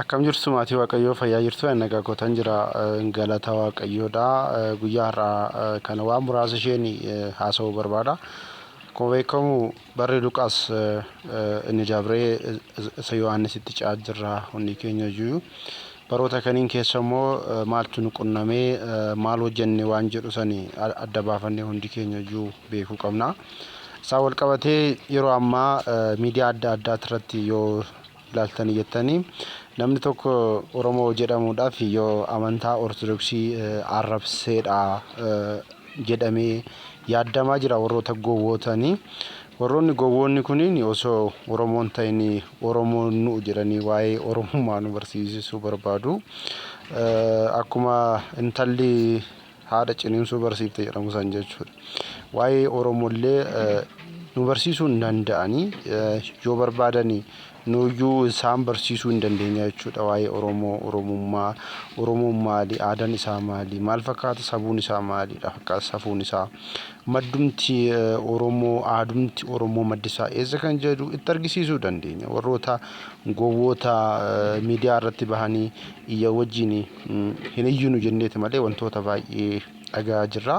Akkam jirtu maatii waaqayyoo fayyaa jirtu ani nagaa kootan jira galata waaqayyoodha guyyaa har'aa kana waan muraasa isheen haasa'uu barbaada akkuma beekamu barri luqaas inni dabree isa yohaannisitti ce'aa jirra hundi keenya iyyuu baroota kaniin keessa immoo maaltu nu qunnamee maal hojjenne waan jedhu sani adda baafannee hundi keenya iyyuu beekuu qabna isaa wal qabatee yeroo ammaa miidiyaa adda addaa irratti yoo ilaaltanii jettanii namni tokko Oromoo jedhamuudhaaf yoo amantaa Ortodoksii arrabseedha jedhamee yaaddamaa jira warroota gowwootanii. Warroonni gowwoonni kuniin osoo Oromoon ta'in Oromoon nu'u jedhanii waa'ee Oromummaa nu barsiisisuu barbaadu. Akkuma intalli haadha ciniinsuu barsiifte jedhamu san jechuudha. Waa'ee Oromollee nu barsiisuu hin danda'anii yoo barbaadani nuyyuu isaan barsiisuu hin dandeenya jechuudha. Waa'ee Oromoo, Oromummaa, Oromoon maali, aadaan isaa maali, maal fakkaata sabuun isaa maalidha, fakkaata safuun isaa, maddumti Oromoo, aadumti Oromoo maddi isaa eessa kan jedhu itti argisiisuu dandeenya. Warroota gowwoota miidiyaa irratti bahanii iyya wajjin Hin iyyinu jenneeti malee wantoota baay'ee dhaga'aa jirra.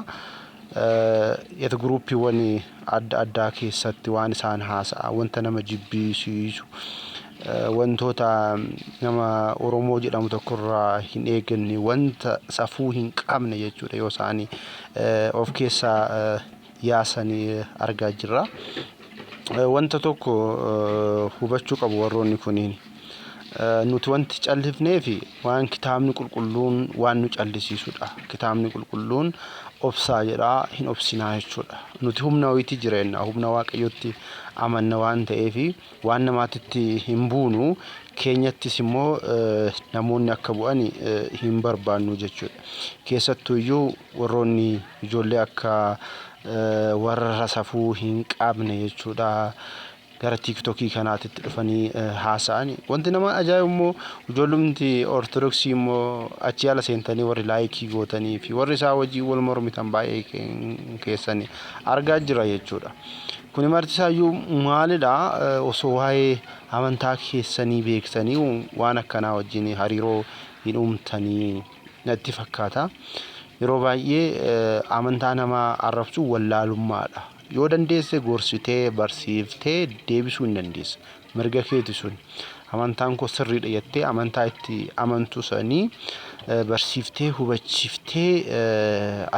Yet guruuppiiwwan adda addaa keessatti waan isaan haasa'an wanta nama jibbisiisu wantoota nama Oromoo jedhamu tokkorraa hin eeganne wanta safuu hin qabne jechuudha yoo isaan of keessaa yaasan argaa jirra. Wanta tokko hubachuu qabu warroonni kuniin. Nuti wanti callifneef waan kitaabni qulqulluun waan nu callisiisudha. Kitaabni qulqulluun obsaa jedhaa hin obsinaa jechuudha. Nuti humna wayiitti jireenna humna waaqayyootti amanna waan ta'eef waan namaatitti hin buunu keenyattis immoo namoonni akka bu'an hin barbaannu jechuudha. Keessattuu iyyuu warroonni ijoollee akka warra safuu hin qabne jechuudha. gara tiiktokii kanaatitti dhufanii haasa'an. Wanti nama ajaa'ibu immoo ijoollumti ortodoksii immoo achi ala seentanii warri laayikii gootanii fi warri isaa wajjin wal mormitan baay'ee keessan argaa jira jechuudha. Kuni marti isaayyuu maalidha osoo waa'ee amantaa keessanii beektanii waan akkanaa wajjin hariiroo hin uumtanii natti fakkaata. Yeroo baay'ee amantaa namaa arrabsuu wallaalummaadha. Yoo dandeesse gorsitee, barsiiftee deebisuu hin dandeessa. Mirga keeti sun. Amantaan koo sirriidha jettee amantaa itti amantu sanii barsiiftee, hubachiiftee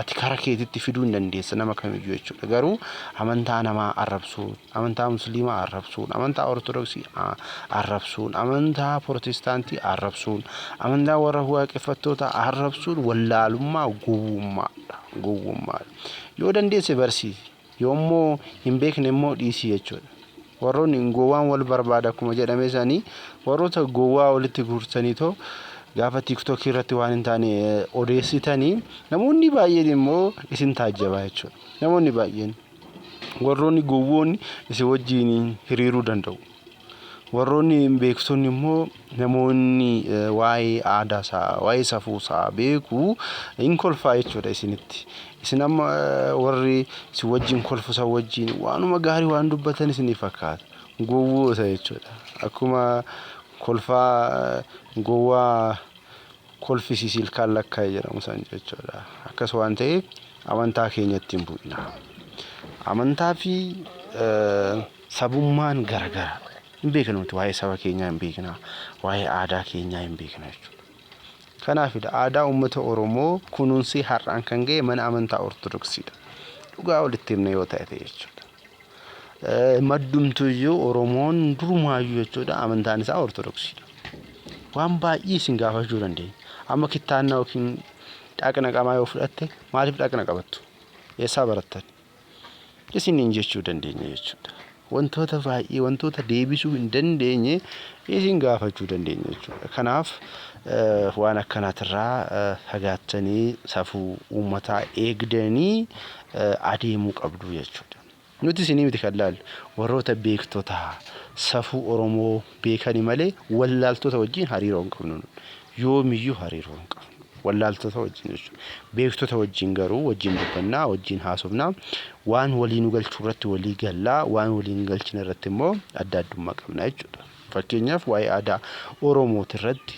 ati kara keetitti fiduu hin dandeessa nama kamiyyuu jechuudha. Garuu amantaa namaa arrabsuun, amantaa musliimaa arrabsuun, amantaa ortodoksii arrabsuun, amantaa pirootestaantii arrabsuun, amantaa warra waaqeffattootaa arrabsuun wallaalummaa gowwummaadha. Gowwummaadha. Yoo dandeesse barsiisi. Yoommoo hin beekne immoo dhiisii jechuudha. Warroonni gowwaan wal barbaada akkuma jedhame isaanii warroota gowwaa walitti guurtanii too gaafa tiiktookii irratti waan hin taane odeessitanii namoonni baay'een immoo isin taajjabaa jechuudha. Namoonni baay'een warroonni gowwoonni isin wajjin hiriiruu danda'u. Warroonni beektonni immoo namoonni waa'ee aadaa isaa, waa'ee safuu isaa beeku hin kolfaa jechuudha isinitti. Isin amma warri isin wajjin kolfu san wajjin waanuma gaarii waan dubbatan isinii fakkaata. Gowwoota jechuudha. Akkuma kolfaa gowwaa kolfisiisi ilkaan lakkaa'e jedhamu san jechuudha. Akkas waan ta'eef amantaa keenyatti hin bu'ina. Amantaa fi Sabummaan gara gara. Hin beeknu nuti waa'ee saba keenyaa hin beekna. Waa'ee aadaa keenyaa hin beekna jechuudha. Kanaafidha aadaa uummata Oromoo kunuunsee har'aan kan ga'e mana amantaa Ortodoksiidha. Dhugaa walitti himna yoo ta'e ta'e jechuudha. Maddumtuyyuu Oromoon durumaayyuu jechuudha amantaan isaa Ortodoksiidha. Waan baay'ee isin gaafachuu dandeenya. Amma kittaannaa yookiin dhaqna qamaa yoo fudhatte maaliif dhaqna qabattu? Eessaa barattan? isiniin jechuu dandeenya jechuudha. Wantoota baay'ee wantoota deebisuu hin dandeenye isin gaafachuu dandeenya jechuudha. Kanaaf waan akkanaatirraa fagaattanii safuu uummataa eegdanii adeemuu qabdu jechuudha. Nuti isinii miti kan laallu warroota beektotaa safuu Oromoo beekani malee wallaaltota wajjin hariiroo hin qabnu nun. Yoomiyyuu hariiroo hin qabnu. Wallaaltota wajjin jechuudha. Beektota wajjin garuu wajjin dubbannaa, wajjin haasofna, waan walii nu galchu irratti walii galla, waan walii hin galchine irratti immoo adda addummaa qabna jechuudha. Fakkeenyaaf waa'ee aadaa Oromooti irratti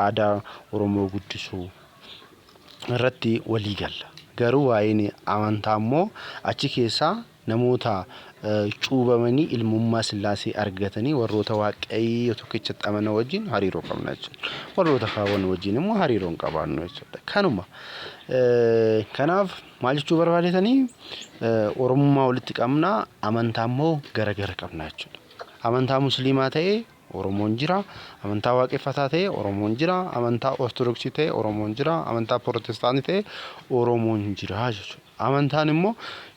aadaa Oromoo guddisuu irratti walii galla. Garuu waa'een amantaa immoo achi keessaa Namoota cuubamanii ilmummaa Sillaasee argatanii warroota Waaqayyo tokkichatti amanan wajjin hariiroo qabna jechuudha. Warroota kaawwan wajjin immoo hariiroo hin qabaannu jechuudha. Kanuma. Kanaaf maal jechuu barbaadetanii Oromummaa walitti qabna amantaa immoo gara gara qabna jechuudha. Amantaa Musliimaa ta'ee Oromoon jira. Amantaa Waaqeffataa ta'e Oromoon jira. Amantaa Ortodoksii ta'e Oromoon jira. Amantaa Pirotestaanii ta'e Oromoon jira jechuudha. Amantaan immoo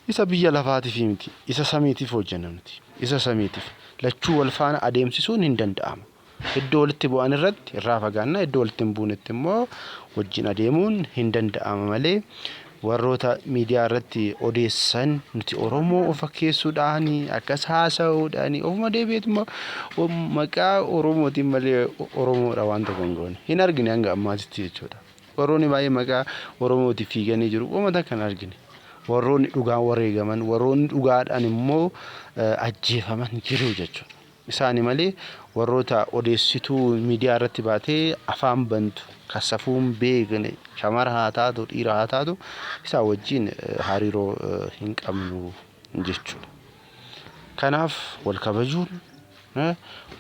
isa biyya lafaatiif miti. Isa samiitiif hojjenna nuti. Isa samiitiif. Lachuu wal faana adeemsisuun hin danda'amu. Iddoo walitti bu'an irratti irraa fagaanna. Iddoo walitti hin buunetti immoo wajjin adeemuun hin danda'ama malee Warroota miidiyaa irratti odeessan nuti Oromoo of fakkeessuudhaan akkas haasa'uudhaan ofuma deebi'eet immoo maqaa Oromootiin malee Oromoodha waan tokko hin goone. Hin argine hanga ammaatitti jechuudha. Warroonni baay'ee maqaa Oromootiif fiiganii jiru. Uuma takka hin argine. Warroonni dhugaan wareegaman, warroonni dhugaadhaan immoo ajjeefaman jiru jechuudha. isaani malee warroota odeessituu miidiyaa irratti baatee afaan bantu kan safuu hin beekne shamara haa taatu dhiira haa taatu isaa wajjiin hariiroo hin qabnu jechuudha. Kanaaf wal kabajuun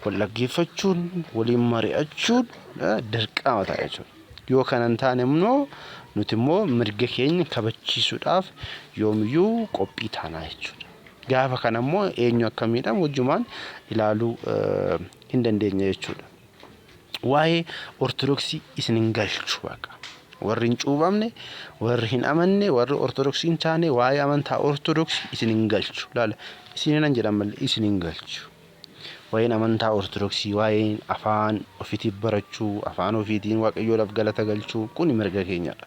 wal dhaggeeffachuun waliin mari'achuun dirqama ta'a jechuudha. Yoo kana hin taane immoo nuti immoo mirga keenya kabachiisuudhaaf yoomiyyuu qophii taanaa jechuudha. Gaafa kana immoo eenyu akka miidhamu wajjumaan ilaaluu hin dandeenye jechuudha. Waa'ee Ortodoksii isin hin galchu baqa. Warri hin cuubamne, warri hin amanne, warri Ortodoksii hin taane waa'ee amantaa Ortodoksii isin hin galchu. Laala isin hin jedhan malee isin hin galchu. Waa'een amantaa Ortodoksii, waa'een afaan ofiitiif barachuu, afaan ofiitiin waaqayyoodhaaf galata galchuu kun mirga keenyadha.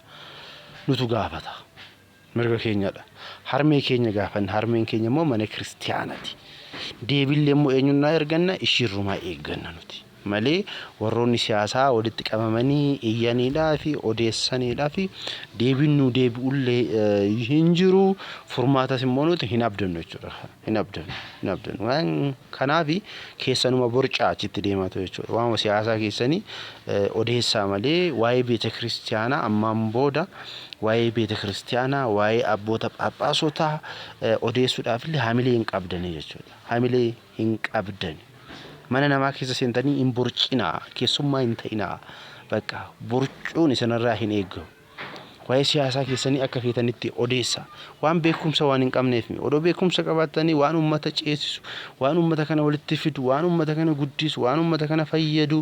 Nutu gaafata. Mirga keenyadha. Harmee keenya gaafanna. Harmeen keenya immoo mana kiristiyaanati. Deebiillee immoo eenyunnaa erganna? Ishiirrumaa eegganna nuti. Malee warroonni siyaasaa walitti qabamanii iyyaniidhaa fi odeessaniidhaa fi deebiin nuu deebi'ullee hin jiru. Furmaatas immoo nuti hin abdannu jechuudha. hin abdanu hin abdanu waan kanaafi keessanuma borcaa achitti deemaatu jechuudha waanuma siyaasaa keessanii eh, odeessaa malee waa'ee beeta kiristiyaanaa ammaan booda waa'ee beeta kiristiyaanaa waa'ee abboota phaaphaasootaa eh, odeessuudhaafillee hamilee hin qabdanii jechuudha hamilee hin qabdani mana namaa keessa seentanii hin borcinaa keessummaa hin ta'inaa bakka borcuun isinirraa hin eegamu. Waa'ee siyaasaa keessanii akka feetanitti odeessa. Waan beekumsa waan hin qabneef mi? Odoo beekumsa qabaattanii waan uummata ceesisu, waan uummata kana walitti fidu, waan uummata kana guddisu, waan uummata kana fayyadu,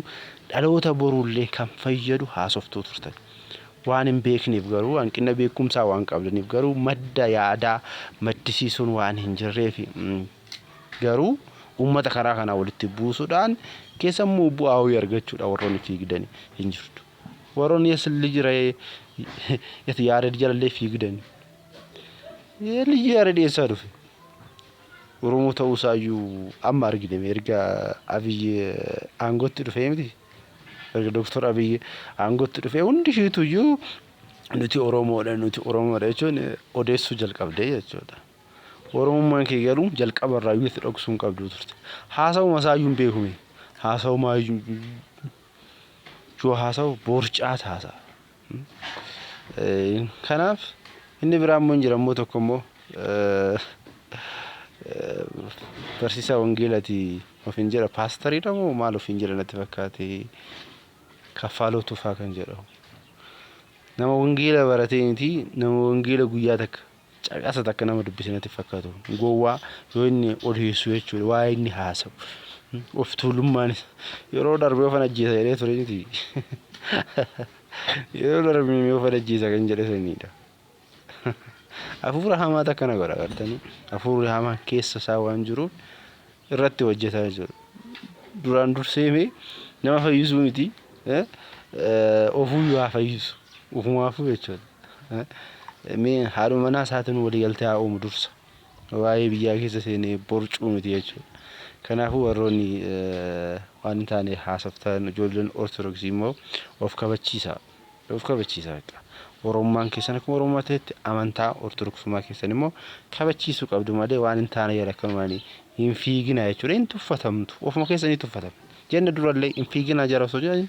dhaloota boruullee kan fayyadu haasoftuu turtan. Waan hin beekneef garuu, hanqina beekumsaa waan qabdaniif garuu madda yaadaa maddisiisuun waan hin jirreef garuu uummata karaa kanaa walitti buusuudhaan keessammoo bu'aa wayii argachuudhaan warroonni fiigdani hin jirtu. Waroon yes lij ra'ee yes yaared jalallee fiigdan lij yaared eessaa dhufe Oromoo ta'uu isaa iyyuu amma argine erga Abiy aangootti dhufee miti erga Dooktor Abiy aangootti dhufee hundi ishiitu iyyuu nuti Oromoodha nuti Oromoodha jechuun odeessuu jalqabdee jechuudha. Oromummaan kee garuu jalqaba irraa iyyuu itti dhoksuu hin qabdu turte. Haasawuma isaa iyyuu hin beekume. Haasawuma yoo haasa'u boorcaat haasa'a. Kanaaf inni biraa immoo hin jira immoo tokko immoo barsiisaa wangeelati ofiin jedha paastariidha moo maal ofiin jedha natti fakkaate kaffaaloo tufaa kan jedhamu. Nama wangeela baratee miti nama wangeela guyyaa takka caqasa takka nama dubbise natti fakkaatu gowwaa yoo inni odeessu jechuudha waa inni haasa'u of tuulummaan yeroo darbee ofan ajjeesa jedhee ture miti yeroo darbee mee ofan ajjeesa kan jedhe saniidha hafuura hamaa takka na godha gartanii hafuurri hamaan keessa isaa waan jiruuf irratti hojjetaa jechuudha. Duraan dursee mee nama fayyisuu miti ofuu yoo haa fayyisu ofumaafuu jechuudha. Mee haadhuma manaa isaatiin waliigaltee haa uumu dursa. Waa'ee biyyaa keessa seenee borcuu miti jechuudha. Kanaafuu warroonni waan hin taane haasoftan ijoolleen ortodoksii immoo of kabachiisa. of kabachiisaa akka oromummaan keessan akkuma oromummaa ta'etti amantaa ortodoksummaa keessan immoo kabachiisuu qabdu malee waan hin taane jala akkanumaan hin fiiginaa jechuudha hin tuffatamtu ofuma keessanii tuffatamtu jenna durallee hin fiiginaa jara osoo jedhan